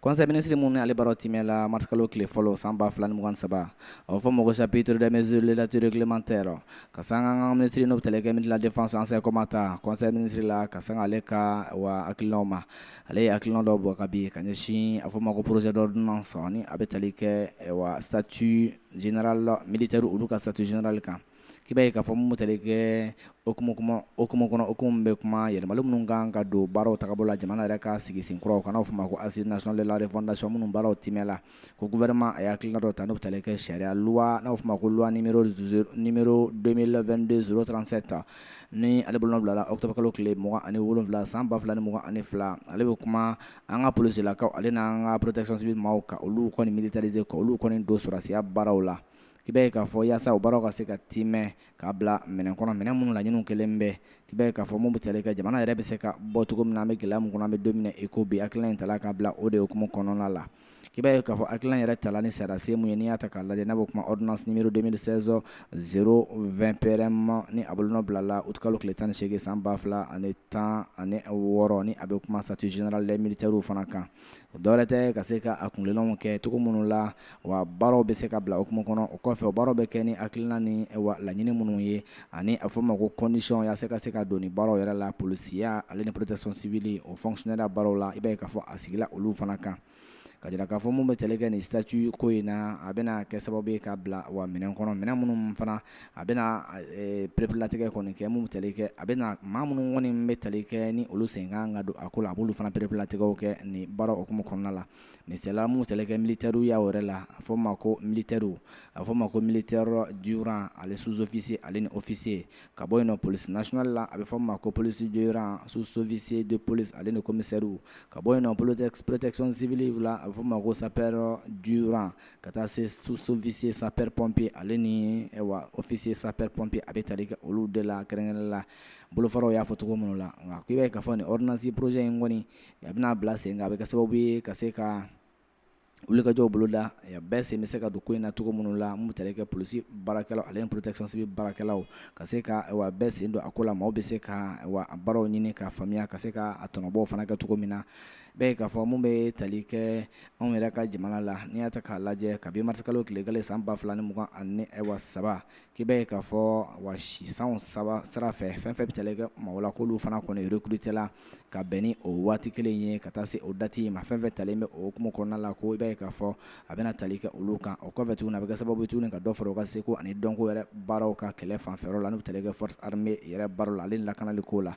Kɔsa minisiri minnu ni ale baara timɛ la marikalo tile fɔlɔ san 2 fila mugan saba a fɔ mɔgɔ saptedmɛzouru latirekiman tɛ rɔ ka san ankan minisiri n'o tɛkɛ midlafan sanɛkɔma ta kɔsɔn minisiri la ka san ale ka wa akilaw ma ale ye akil dɔw bɔ ka bin ka ɲɛsin a fɔ ma ko porozdɔ dunan sɔn a bɛ tali kɛ sati zinarala militari olu ka sati zinarali kan k'i b'a ye k'a fɔ mun bɛ tali kɛ hukumu kuma hukumu kɔnɔ hukumu min bɛ kuma yɛlɛmali minnu kan ka don baaraw tagabolo la jamana yɛrɛ ka sigi sen kuraw kan n'an b'a fɔ o ma ko assise nationale de la refondation minnu baaraw timɛ la ko gouvernement a ye hakilina dɔ ta n'o bɛ tali kɛ sariya loi n'a bɛ fɔ o ma ko loi numéro zero numéro 2022 037 ni ale bolonɔ bila la octobre kalo tile mugan ani wolonwula san ba fila ni mugan ani fila ale bɛ kuma an ka polisilakaw ale n'an ka protection civile maaw ka olu kɔni militariser ka olu kɔni don sɔrasiya baaraw la. i b'a ye k'a fɔ yaasa o baaraw ka se ka timɛ k'a bila minɛn kɔnɔ minɛn minnu laɲiniw kelen bɛ i b'a ye k'a fɔ mun bɛ tali kɛ jamana yɛrɛ bɛ se ka bɔ cogo min na an bɛ gɛlɛya min kɔnɔ an bɛ don min na i ko bi hakilina in tala ka bila o de hukumu kɔnɔna la i b'a ye k'a fɔ hakilina yɛrɛ tala ni sariyasen mun ye n'i y'a ta k'a lajɛ n'a bɛ kuma ordonnance numéro 2016 020 PRM ni a bolonɔ bila la août kalo tile tan ni seegin san ba fila ani tan ani wɔɔrɔ ni a bɛ kuma statut général des militaires fana kan o dɔwɛrɛ tɛ ka se ka a kuntilennaw kɛ cogo minnu la wa baaraw bɛ se ka bila hukumu kɔnɔ o kɔfɛ o baaraw bɛ kɛ ni hakilina ni wa laɲini minnu ye ani a fɔ ma ko condition yaasa ka se ka don ni baaraw yɛrɛ la polisiya ale ni protection civile o fonctionnaireya baaraw la i b'a ye k'a fɔ a sigila olu fana kan ka jira k'a fɔ mun bɛ tali kɛ nin statut ko in na a bɛna kɛ sababu ye ka bila wa minɛn kɔnɔ minɛn minnu fana a bɛna pereperelatigɛ kɔni kɛ mun bɛ tali kɛ a bɛna maa minnu kɔni bɛ tali kɛ ni olu sen kan ka don a ko la a b'olu fana pereperelatigɛw kɛ nin baara hukumu kɔnɔna la misali la mun bɛ tali kɛ militaireya yɛrɛ la a fɔ ma ko militaires a fɔ ma ko militaire du rang ale sous-officier ale ni officier ka bɔ yen nɔ police nationale la a bɛ fɔ ma ko policier du rang sous-officier de police ale ni commissaires ka bɔ yen nɔ protection civile la a bɛ fɔ ma ko sapeur du rang ka taa se sous-officier sapeur-pompier ale ni wa officier sapeur-pompier a bɛ tali kɛ olu de la kɛrɛnkɛrɛnnen la bolofaraw y'a fɔ cogo minnu la nka k'i b'a ye k'a fɔ nin ordonnance projet in kɔni a bɛna bila sen kan a bɛ kɛ sababu ye ka se ka wulikajɔw boloda bɛɛ sen bɛ se ka don ko in na cogo minnu la mun bɛ tali kɛ polisi baarakɛlaw ale protection civile baarakɛlaw ka se ka bɛɛ sen don a ko la maaw bɛ se ka baaraw ɲini k'a faamuya ka se k'a tɔnɔbɔw fana kɛ cogo min na i b'a ye k'a fɔ mun bɛ tali kɛ anw yɛrɛ ka jamana la n'i y'a ta k'a lajɛ kabi marisikalo tile kelen san ba fila ni mugan ani wa saba k'i b'a ye k'a fɔ wa si san saba sira fɛ fɛn fɛn bɛ tali kɛ maaw la k'olu fana kɔni recruter la ka bɛn ni o waati kelen ye ka taa se o date in ma fɛn fɛn talen bɛ o hukumu kɔnɔna la ko i b'a ye k'a fɔ a bɛna tali kɛ olu kan o kɔfɛ tuguni a bɛ kɛ sababu ye tuguni ka dɔ fara u ka seko ani dɔnko yɛrɛ baaraw kan kɛlɛ fanfɛyɔrɔ la n'o bɛ tali kɛ force armée yɛrɛ baaraw la ale ni lakanali kow la